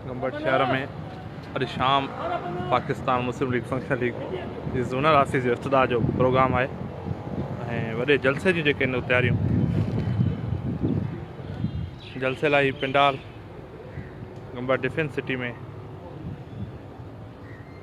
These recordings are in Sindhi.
گمبٽ شهر ۾ اڄ شام پاڪستان مسلم ليگ فنڪشن ليگ جي زونل آفيس جو افتتاح جو پروگرام آهي ۽ وڏي جلسي جون جيڪي آهن تياريون جلسي لاء پنڊال گمبا ڊفينس سٽي ۾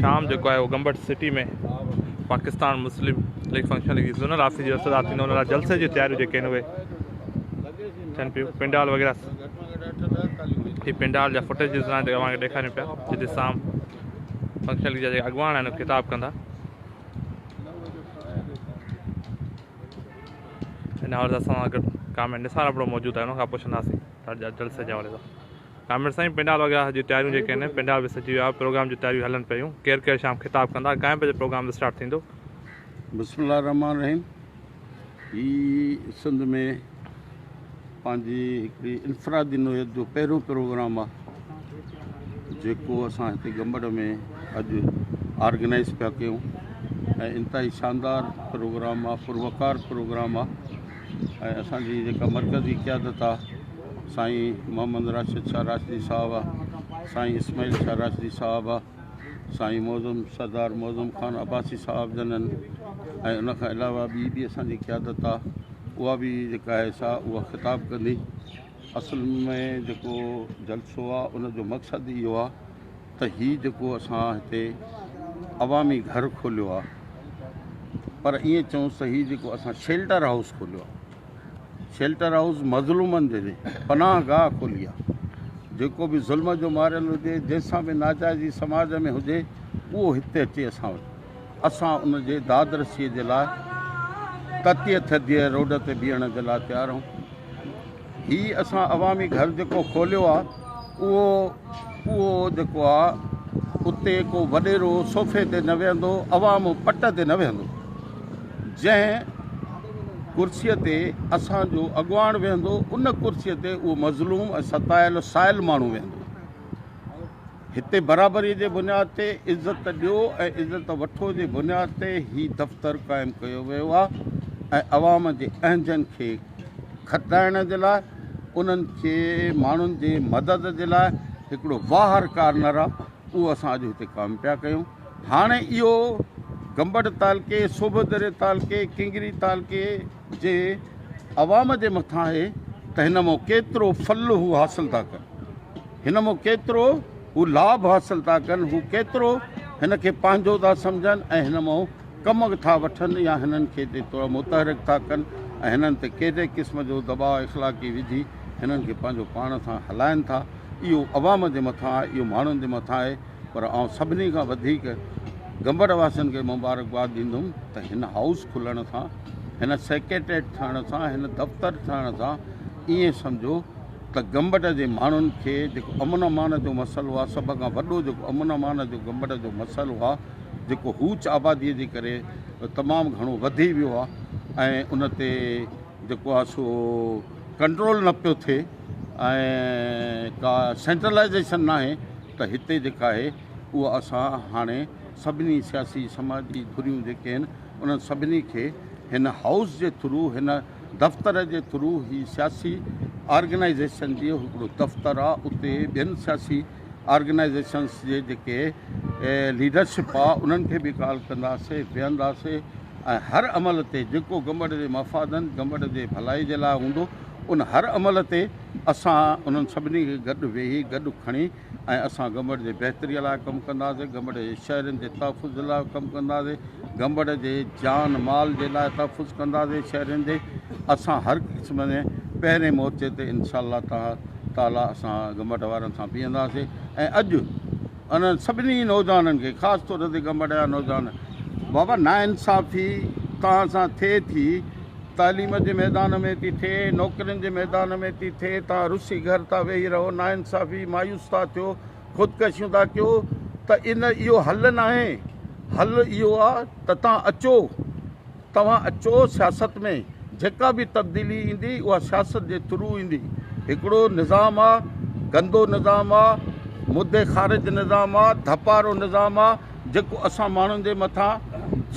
شام جيڪو آهي اهو Gambat city ۾ Pakistan Muslim League Function League zonal office جي صدا ٿيندو ان لاء جلسي جي تياريون جيڪي آهن اهي ٿين پيون پنڊال وغيرہ هي پنڊال جا فوٽيج اوهان کي ڏيکاريون پيا جتي سام فنڪشن ليگ جا جيڪي اڳواڻ آهن اهي خطاب ڪندا ان حوالي سان اسان گڏ ڪامينٽ نثار ابڙو موجود آهي ان کان پڇنداسين جلسي جي حوالي سان ڪامينٽ سائين پنڊال وغيره جي تياريون جيڪي آهن پنڊال به سجي ويو آهي پروگرام جي تياريون هلن پيون ڪير ڪير شام خطاب ڪندا ڪئين بجي پروگرام اسٽارٽ ٿيندو بسم الله الرحمٰن الرحيم هي سنڌ ۾ پنهنجي هڪڙي انفرادي نوعيت جو پهريون پروگرام آهي جيڪو اسان هتي گمبڙ ۾ اڄ آرگنائز پيا ڪيون ۽ انتهائي شاندار پروگرام آهي پروقار پروگرام آهي ۽ اسانجي جيڪا مرڪزي قيادت آهي سائين محمد راشد شاهه راشدي صاحب سائين اسماعيل شاهه راشدي صاحب سائين معظم سردار معظم خان عباسي صاحب جن ۽ ان کان علاوه ٻي به اسان جي قيادت آ اها به جيڪا آهي سا اها خطاب ڪندي اصل ۾ جيڪو جلسو آ ان جو مقصد اهو آ ته هي جيڪو اسان هتي عوامي گهر کوليو آ پر ايئن چئونس ته هي جيڪو اسان شيلٽر هائوس کوليو آ شيلٽر هائوس مظلومن جي لئي پناهه گاهه کولي آ جيڪو به ظلم جو ماريل هجي جنهن سان به ناجائزي سماج ۾ هجي اهو هتي اچي اسان وٽ اسان ان جي داد رسي جي لاء تتي ٿڌيء روڊ تي بيهڻ جي لاء تيار آهون هي اسان عوامي گهر جيڪو کوليو آ اهو اهو جيڪو آ اتي ڪو وڏيرو صوفي تي نه ويهندو عوام پٽ تي نه ويهندو جنهن ڪرسي تي اسان جو اڳواڻ ويهندو ان ڪرسي تي اهو مظلوم ۽ ستايل سائل ماڻهو ويهندو هتي برابري جي بنياد تي عزت ڏيو ۽ عزت وٺو جي بنياد تي هي دفتر قائم ڪيو ويو آ ۽ عوام جي اهنجن کي کٽائڻ جي لاء انهن کي ماڻهن جي مدد جي لاء هڪڙو واهر ڪارنر آهي اهو اسان اڄ هتي قائم پيا ڪيون هاڻي اهو گمبٽ تعلقي سوڀ دري تعلقي ڪينگري تعلقي جي عوام جي مٿان آهي ته هن مون ڪيترو ڦل هو حاصل ٿا ڪن هن مون ڪيترو هو لاڀ حاصل ٿا ڪن هو ڪيترو هن کي پنهنجو ٿا سمجهن ۽ هن مون ڪم ٿا وٺن يا هنن کي جي طور متحرڪ ٿا ڪن ۽ هنن تي ڪهڙي قسم جو دٻاء اخلاقي وجهي هنن کي پنهنجو پاڻ سان هلائن ٿا اهو عوام جي مٿان آهي اهو ماڻهن جي مٿان آهي پر آئون سڀني کان وڌيڪ گمبڙ واسين کي مبارڪباد ڏيندم ته هن هائوس کلڻ سان هن سيڪريٽريٽ ٺهڻ سان هن دفتر ٺهڻ سان ائين سمجهو ته گمبٽ جي ماڻهن کي جيڪو امن امان جو مسئلو آهي سڀ کان وڏو جيڪو امن امان جو گمبٽ جو مسئلو آهي جيڪو هوچ آباديء جي ڪري تمام گهڻو وڌي ويو آهي ۽ ان تي جيڪو آهي سو ڪنٽرول نه پيو ٿئي ۽ ڪا سينٽرلائزيشن ناهي ته هتي جيڪا آهي اها اسان هاڻي سڀني سياسي سماجي ڌريون جيڪي آهن انهن سڀني کي هن هائوس جي ٿرو هن دفتر جي ٿرو هي سياسي آرگنائيزيشن جي هڪڙو دفتر آهي اتي ٻين سياسي آرگنائيزيشنس جي جيڪي ليڊرشپ آ انهن کي به ڪال ڪنداسي ويهنداسي ۽ هر عمل تي جيڪو گمبٽ جي مفادن گمبٽ جي ڀلائي جي لاء هوندو ان هر عمل تي اسان انهن سڀني کي گڏ ويهي گڏ کڻي ۽ اسان گمبٽ جي بهتري لاء ڪم ڪنداسي گمبٽ جي شهرين جي تحفظ لاء ڪم ڪنداسي گنبڙ جي جان مال جي لاء تحفظ ڪنداسين شهرين جي اسان هر قسم ۾ پهرين مورچي تي انشاء الله تعالي اسان گنبٽ وارن سان بيهنداسين ۽ اڄ انهن سڀني نوجوانن کي خاص طور تي گنبٽ جا نوجوان بابا نا انصافي توهان سان ٿئي ٿي تعليم جي ميدان ۾ ٿي ٿئي نوڪرين جي ميدان ۾ ٿي ٿئي توهان رسي گهر ٿا ويهي رهو نا انصافي مايوس ٿا ٿيو خودڪشيون ٿا ڪيو ته ان اهو حل ناهي حل اهو آ ته تان اچو توهان اچو سياست ۾ جيڪا به تبديلي ايندي اها سياست جي ٿرو ايندي هڪڙو نظام آ گندو نظام آ مدي خارج نظام آ ڌپارو نظام آ جيڪو اسان ماڻهن جي مٿان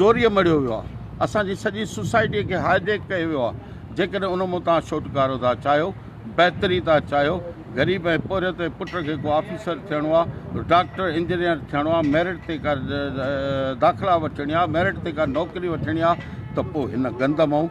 زوريء مڙهيو ويو آ اسان جي سڄي سوسائٽي کي هائجيڪ ڪيو ويو آ جيڪڏهن ان متان ڇوٽڪارو ٿا چاهيو بهتري تان چاهيو، غريب ۽ پورهيتي پٽ کي ڪو آفيسر ٿيڻو آ، ڊاڪٽر، انجنيئر ٿيڻو آ، ميرٽ تي ڪا داخلا وٺڻي آ، ميرٽ تي ڪا نوڪري وٺڻي آ ته پوء هن گند مئون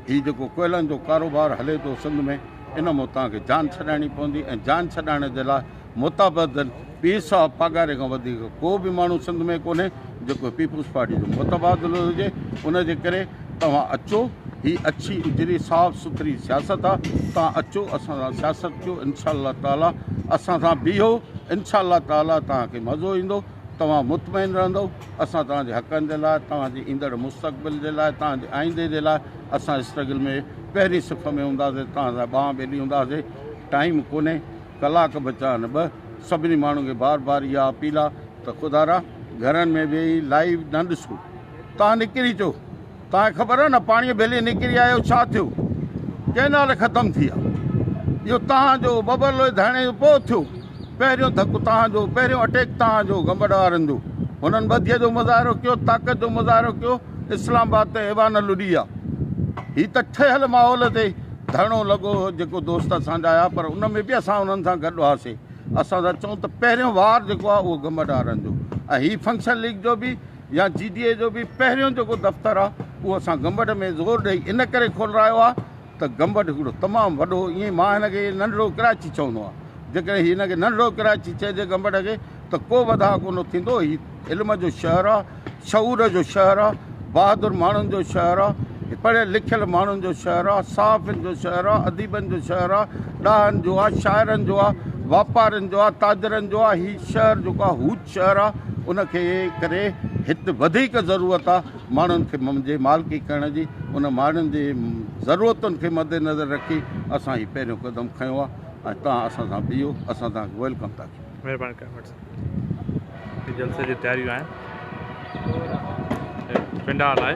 هي جيڪو ڪوئلن جو ڪاروبار هلي ٿو سنڌ ۾ ان مئون توهان کي جان ڇڏائڻي پوندي ۽ جان ڇڏائڻ جي لاء متبادل ٻي سئو پگهاري کان وڌيڪ ڪو به ماڻهو سنڌ ۾ ڪونهي جيڪو پيپلز پارٽي جو متبادل هجي ان جي ڪري توهان اچو هي اڇي اجري صاف سٿري سياست آ توهان اچو اسان سان سياست ڪيو انشاء الله تعالي اسان سان بيهو انشاء الله تعالي توهان کي مزو ايندو توهان مطمئن رهندو اسان توهان جي حقن جي لاء توهان جي ايندڙ مستقبل جي لاء توهان جي آئيندي جي لاء اسان اسٽرگل ۾ پهرين صف ۾ هونداسين توهان سان ٻانهن ٻيلي هونداسين ٽائيم ڪونهي ڪلاڪ بچا نه ٻه سڀني ماڻهن کي بار بار اها اپيل آ ته خدارا گهرن ۾ ويهي لائيو نه ڏسو تان نڪري چو تان خبر آ نه پاڻي ڀيلي نڪري آيو ڇا ٿيو ڪينال ختم ٿي آ اهو تان جو ٻٻر لوئي ڌڻي جو پو ٿيو پهريون ڌڪ تان جو پهريون اٽيڪ تان جو گمبڙ وارن جو هنن ٻڌيء جو مظاهرو ڪيو طاقت جو مظاهرو ڪيو اسلام آباد ته ايوان لڏي آ هي ته ٺهيل ماحول تي ڌرڻو لڳو هو جيڪو دوست اسان جا هيا پر ان ۾ به اسان انهن سان گڏ هئاسي اسان سان چئون ته پهريون وار جيڪو آهي اهو گمبٽ وارن جو ۽ هي فنڪشن ليگ جو به يا جي ڊي اي جو به پهريون جيڪو دفتر آهي اهو اسان گمبٽ ۾ زور ڏئي ان ڪري کولرايو آهي ته گمبٽ هڪڙو تمام وڏو ائين مان هن کي ننڍڙو ڪراچي چوندو آهيان جيڪڏهن هن کي ننڍڙو ڪراچي چئجي گمبٽ کي ته ڪو وڌاء ڪونه ٿيندو، هي علم جو شهر آ، شعور جو شهر آ، بهادر ماڻهن جو شهر آ، هي پڙهيل لکيل ماڻهن جو شهر آ، صحافين جو شهر آ، اديبن جو شهر آ، ڏاهن جو آ، شاعرن جو آ، واپارين جو آ، تاجرن جو آ، هي شهر جيڪو آ هوت شهر آ، ان کي ڪري هت وڌيڪ ضرورت آ ماڻهن کي جي مالڪي ڪرڻ جي، ان ماڻهن جي ضرورتن کي مدنظر رکي اسان هي پهريون قدم کنيو آ ۽ توهان اسان سان بيهو، اسان توهان کي ويلڪم ٿا ڪيون. مهرباني ڪري وٺ سان جلسي جي تياريون آهن پنڊال آهي